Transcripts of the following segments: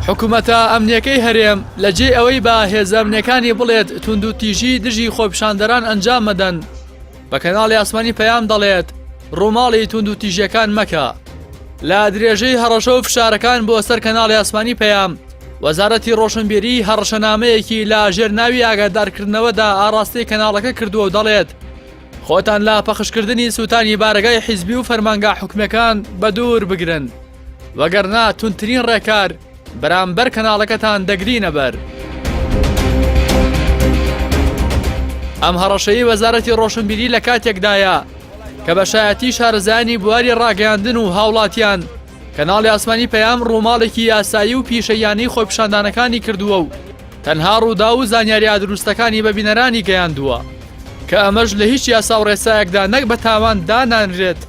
حکومەتە ئەمنیەکەی هەرێم لە جێ ئەوەی بە هێزەمنەکانی بڵێت توندوتیژی دژی خۆپشاندەران ئەنجام مەدەن بە کەناڵی ئاسمانی پەیام دەڵێت ڕووماڵی توندوتیژیەکان مەکە لە درێژەی هەڕەشە و فشارەکان بۆ سەر کەناڵی ئاسمانی پەیام وەزارەتی ڕۆشنبیری هەڕەشەنامەیەکی لا ژێر ناوی ئاگادارکردنەوەدا ئاراستەی کەناڵەکە کردووە و دەڵێت خۆتان لە پەخشکردنی سووتانی بارەگای حیزبی و فەرمانگا حکومیەکان بە دوور بگرن، وەگەرنا توندترین ڕێکار بەرامبەر کەناڵەکەتان دەگرینە بەر. ئەم هەڕەشەی وەزارەتی ڕۆشنبیری لە کاتێکدایە کە بە شایەتی شارەزایانی بواری ڕاگەیاندن و هاوڵاتیان، کەناڵی ئاسمانی پەیام ڕووماڵێکی یاسایی و پیشەییانەی خۆپیشاندانەکانی کردووە و تەنها ڕووداو و زانیارییە دروستەکانی بە بینەرانی گەیاندووە کە ئەمەش لە هیچ یاسا و ڕێسایەکدا نەک بە تاوان دانانرێت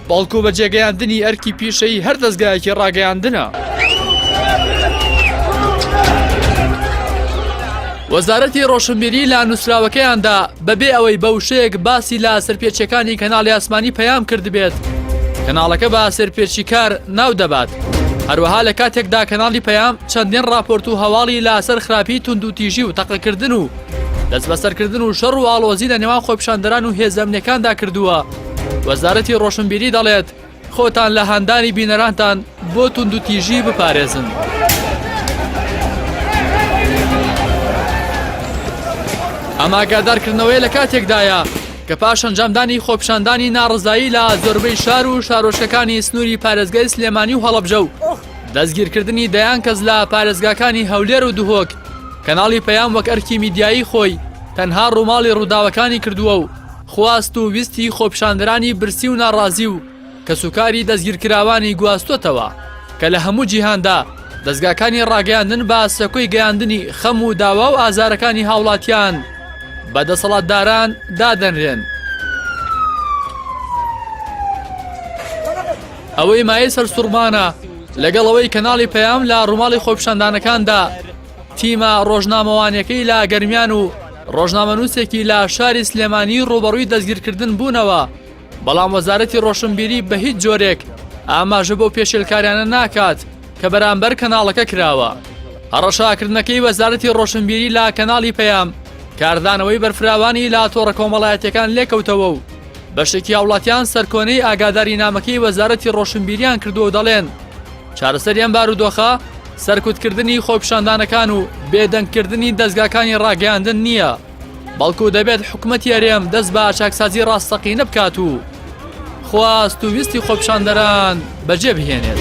بەڵکو بە جێگەیاندنی ئەرکی پیشەیی هەر دەزگایەکی ڕاگەیاندنە. وەزارەتی ڕۆشنبیری لە نووسراوەکەیاندا بەبێ ئەوەی بە وشەیەک باسی لە سەرپێچیەکانی کەناڵی ئاسمانی پەیام کردبێت کەناڵەکە بە سەرپێچی کار ناو دەبات هەروەها لە کاتێکدا کەناڵی پەیام چەندین راپۆرت و هەواڵی لاسەر خراپی تونند و تیژی و تەقەکردن و دەست بەسەرکردن و شەڕ و ئاڵۆزی لە نێوان خۆپشاندەران و هێزەمنەکاندا کردووە وەزارەتی ڕۆشنبیری دەڵێت خۆتان لە هاندانی بینەرانتان بۆ توندوتیژی بپارێزن. ئەم ئاگادارکردنەوەیە لە کاتێکدایە کە پاش ئەنجامدانی خۆپشاندانی ناڕزایی لە زۆربەی شار و شارۆچکەکانی سنووری پارێزگای سلێمانی و هەڵەبجە و دەستگیرکردنی دەیان کەس لە پارێزگاکانی هەولێر و دهۆک کەناڵی پەیام وەک ئەرکی میدیایی خۆی تەنها ڕووماڵی ڕووداوەکانی کردووە و خواست و ویستی خۆپیشاندەرانی برسی و ناڕازی و کەسوکاری دەستگیرکراوانی گواستووەتەوە کە لە هەموو جیهاندا دەزگاکانی ڕاگەیاندن بە سەکۆی گەیاندنی خەم و داوا و ئازارەکانی هاوڵاتیان بە دەسەڵاتداران دادەنرێن. ئەوەی مایەی سەرسوڕمانە، لەگەڵ ئەوەی کەناڵی پەیام لە ڕووماڵی خۆپیشاندانەکاندا، تیمە ڕۆژنامەوانیەکەی لە گەرمیان و ڕۆژنامەنووسێکی لە شاری سلێمانی ڕوبەڕووی دەستگیرکردن بوونەوە بەڵام وەزارەتی ڕۆشنبیری بە هیچ جۆرێک ئاماژە بۆ پێشێلکاریانە ناکات کە بەرامبەر کەناڵەکە کراوە هەڕەشاکردنەکەی وەزارەتی ڕۆشنبیری لا کەناڵی پەیام کاردانەوەی بەرفراوانی لا تۆڕە کۆمەڵایەتەکان لێکەوتەوە و بەشێکی هاوڵاتیان سەرکۆنەی ئاگاداری نامەکەی وەزارەتی ڕۆشنبیریان کردو و دەڵێن چارەسەری ئەم بارودۆخە سەرکوتکردنی خۆپیشاندانەکان و بێدەنگکردنی دەزگاکانی ڕاگەیاندن نییە، بەڵکو دەبێت حکومەتی هەرێم دەست بە چاکسازی ڕاستەقینە بکات و خواست و ویستی خۆپیشاندەران بەجێبهێنێت.